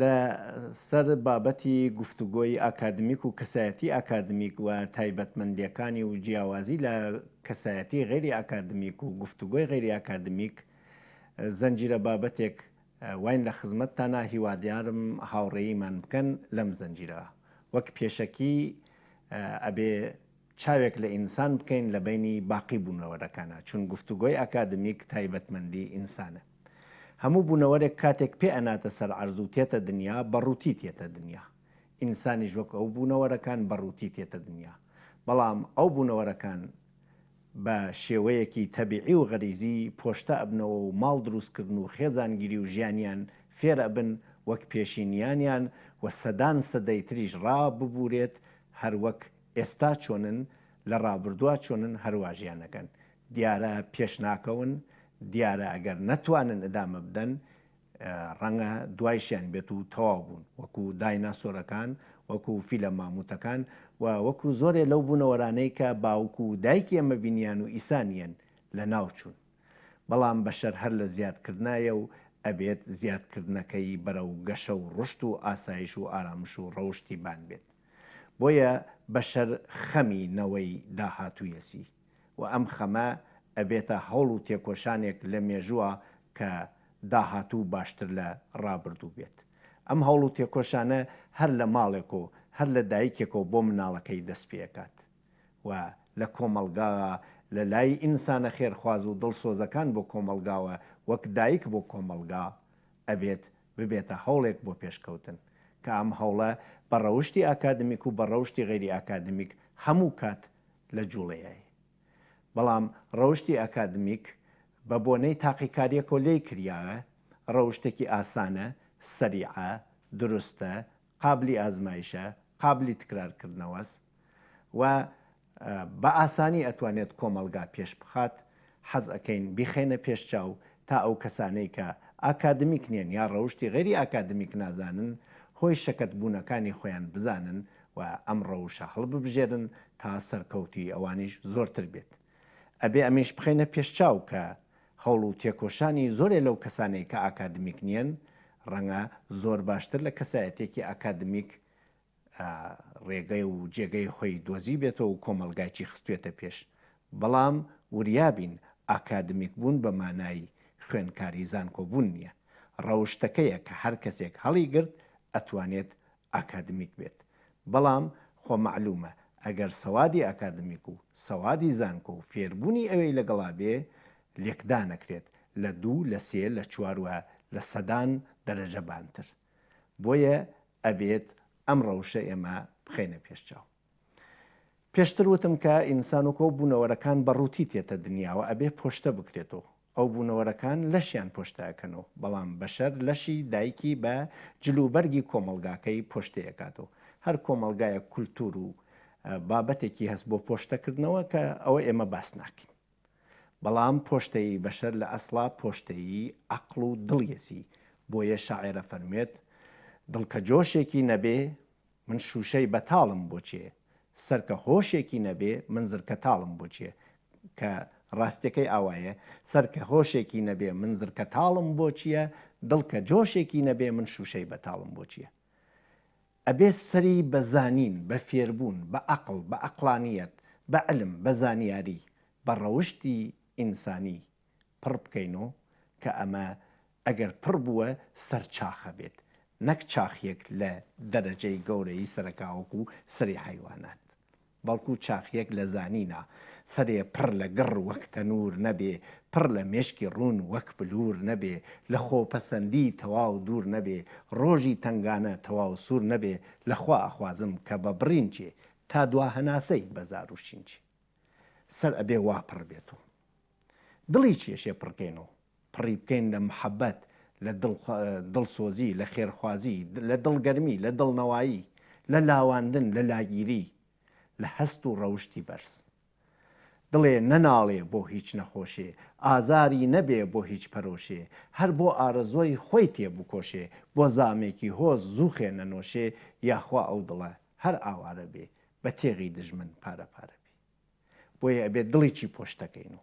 لە سەر بابەتی گفتوگۆی ئاکادمیک و کەسایەتی ئاکادمیک و تایبەتمەندیەکانی و جیاوازی لە کەسایەتی غێری ئاکادمیک و گفتوگۆی غێری ئاکادمیک زەنجیرە بابەتێک واین لە خزمەتتانا هیوادارم هاوڕێیمان بکەن لەم زەنجیرە وەک پێشەکی ئەبێ چاوێک لە ئینسان بکەین لە بەینی باقی بوونەوەرەکانا چون گفتوگۆی ئاکادمیک تایبەتمەندی ئینسانە هەموو بوونەوەرێک کاتێک پێ ئەناتە سەر عەرز و تێتە دنیا بە ڕووتی تێتە دنیا ئینسانیش وەک ئەو بوونەوەرەکان بە ڕووتی تێتە دنیا بەڵام ئەو بوونەوەرەکان بە شێوەیەکی تەبیعی و غەریزی پۆشتە ئەبنەوە و ماڵ دروست کردن و خێزانگیری و ژیانیان فێر ئەبن وەک پێشینیانیان و سەدان سەدەی تریش ڕا ببوورێت هەر وەک ئێستا چۆنن، لە ڕابردووا چۆنن هەروا ژیان ئەکەن. دیارە پێش ناکەون، دیارە ئەگەر نەتوانن ئدامە بدەن، ڕەنگە دوایشیان بێت و تەواو بوون. وەکو دایناسۆرەکان، وەکو فیلە مامووتەکان و وەکو زۆرێ لەو بوونەوەرانەی کە باوک و دایکی ئێمە بینیان و ئیسا نییەن، لە ناو چوون. بەڵام بەشەر هەر لە زیاد کردنایە و ئەبێت زیاد کردنەکەی بەرەو گەشە و ڕوشت و ئاسایش و ئارامش و ڕەوشتی بان بێت. بۆیە بەشەر خەمی نەوەی داهاتوویەسی و ئەم خەمە ئەبێتە هەوڵ و تێکۆشانێک لە مێژووە کە داهاتوو باشتر لە ڕابردوو بێت ئەم هەوڵ و تێکۆشانە هەر لە ماڵێک و هەر لە دایکێکەوە بۆ مناڵەکەی دەست پێکات و لە کۆمەڵگاا لە لای ئینسانە خێرخواز و دڵسۆزەکان بۆ کۆمەڵگاوە وەک دایک بۆ کۆمەڵگا ئەبێت ببێتە هەوڵێک بۆ پێشکەوتن، کە ئەم هەوڵە بە ڕەوشتی ئاکادمیک و بە ڕەوشتی غەیری ئاکادمیک هەموو کات لە جوڵەیەی. بەڵام ڕەوشتی ئاکادمیک بە بۆنەی تاقیکاریەکەوە لێی کریاە، ڕەوشتێکی ئاسانە، سەریعە، دروستە، قابلی ئازمایشە، قابلی تکرار کردنەوەس. و بە ئاسانی ئەتوانێت کۆمەڵگا پێش بخات، حەز ئەکەین بیخەینە پێش چاو تا ئەو کەسانەی کە ئاکادمیک نیەن یا ڕەوشتی غەیری ئاکادمیک نازانن هۆی شەکەت بوونەکانی خۆیان بزانن و ئەم ڕەوشە هەڵببژێرن تا سەرکەوتووی ئەوانیش زۆرتر بێت ئەبێ ئەمیش بخەینە پێش چاو کە هەوڵ و تێکۆشانی زۆرێ لەو کەسانەی کە ئاکادمیک نیەن ڕەنگە زۆر باشتر لە کەسایەتێکی ئاکادمیک ڕێگەی و جێگەی خۆی دۆزیبێتەوە و کۆمەڵگایکی خستوێتە پێش، بەڵام وریابین ئاکادمیک بوون بە مانای خوێنکاری زانکۆ بوون نیە، ڕەوشتەکەیە کە هەر کەسێک هەڵی گرت ئەتوانێت ئاکادمیک بێت، بەڵام خۆ مەعلومە ئەگەر سەوادی ئاکادمیک و سەوادی زانکۆ و فێربوونی ئەوێی لەگەڵا بێ لێکدانەکرێت لە دوو لە سێ لە چوار و لە سەدان دەرەجە بانتر. بۆیە ئەبێت ئەم ڕەوشە ئێمە بخەینە پێش چاو پێشتر وتم کە ئینسان و کۆ بوونەوەرەکان بە ڕووتی تێتە دنیاوە ئەبێ پۆشتە بکرێتەوە ئەو بوونەوەرەکان لەشیان پۆشتەکەنەوە بەڵام بەشەر لەشی دایکی بە جلوبەرگی کۆمەلگاکەی پۆشتەکاتەوە هەر کۆمەلگایە کولتور و بابەتێکی هەست بۆ پۆشتەکردنەوە کە ئەوە ئێمە باس ناکەین. بەڵام پۆشتەیی بەشەر لە ئەسڵا پۆشتەیی عەقڵ و دڵیەتی، بۆیە شاعێر ئەفەرموێت، دڵ کە جۆشێکی نەبێ، من شووشەی بەتاڵم بۆ چێ؟ سەر کە هۆشێکی نەبێ، من زرکەتاڵم بۆ چێ؟ کە ڕاستیەکەی ئاوایە، سەر کە هۆشێکی نەبێ، من زرکەتاڵم بۆ چیە؟ دڵ کە جۆشێکی نەبێ، من شووشەی بەتاڵم بۆ چیە؟ ئەبێ سەری بە زانین، بە فێربوون، بە عەقڵ، بە عەقڵانییەت، بە علم، بە زانیاری، بە ڕەوشتی ئینسانی پڕ بکەین و کە ئەمە ئەگەر پڕ بووە سەر چاخە بێت نەک چاخیەک لە دەرەجەی گەورەیی سەرەکاوەکو سەری حەیوانات. بەڵکو چاخیەک لە زانینە سەرێ پڕ لە گڕ وەک تەنور نەبێ پڕ لە مێشکی ڕوون وەک بلور نەبێ لە خۆپەسەندی تەواو دوور نەبێ ڕۆژی تەنگانە تەواو سوور نەبێ لە خوا ئەخوازم کە بە بڕینچێ تا دوا هەناسەی بە زار و شینچێ سەر ئەبێ وا پڕ بێت و دڵی کێشێ پڕکەین و پڕی بکەین لە محەبەت، لە دڵسۆزی، لە خێرخوازی، لە دڵگەرمی، لە دڵنەوایی، لە لاواندن، لە لاگیری، لە هەست و ڕەوشتی بەرز. دڵێ نەناڵێ بۆ هیچ نەخۆشێ، ئازاری نەبێ بۆ هیچ پەرۆشێ، هەر بۆ ئارەزۆی خۆی تێ بکۆشێ، بۆ زامێکی هۆز زووخێ نەنۆشێ، یاخوا ئەو دڵە هەر ئاوارە بێ، بە تێغی دژمن پارە پارە بێ. بۆیە ئەبێ دڵیی پۆشتەکەین و.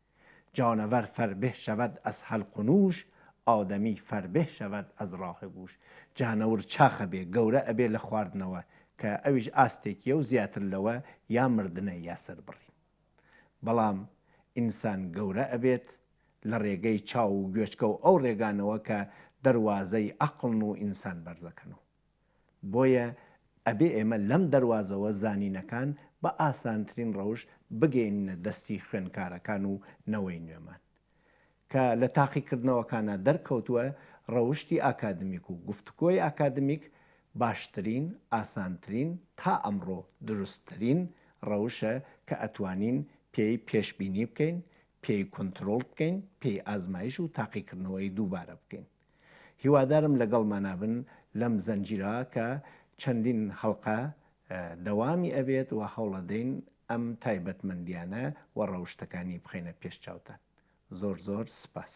جانور فربه شود از حلق و نوش ئادەمی فربه شود از راه گوش جانەور چاخ ئەبێ گەورە ئەبێ لە خواردنەوە کە ئەویش ئاستێکیە و زیاتر لەوە یا مردنە یا سەربڕین بەڵام ئینسان گەورە ئەبێت لە ڕێگەی چاو و گوێچکە و ئەو ڕێگانەوە کە دەروازەی عەقڵن و ئینسان بەرزەکەن و بۆیە ئەبێ ئێمە لەم دەروازەوە زانینەکان بە ئاسانترین ڕەوش بگەیننە دەستی خوێنکارەکان و نەوەی نوێمان. کە لە تاقیکردنەوەکانا دەرکەوتووە ڕەوشتی ئاکادمیک و گفتوگۆی ئاکادمیک باشترین، ئاسانترین، تا ئەمڕۆ دروستترین ڕەوشە کە ئەتوانین پێی پێشبینی بکەین، پێی کونترۆڵ بکەین، پێی ئازمایش و تاقیکردنەوەی دووبارە بکەین. هیوادارم لەگەڵمانابن لەم زنجیرە کە چەندین هەڵقە دەوامی ئەبێت وە هەوڵەدەین ئەم تایبەتمەندیانە وە ڕەوشتەکانی بخەینە پێش چاوتان زۆر زۆر سپاس.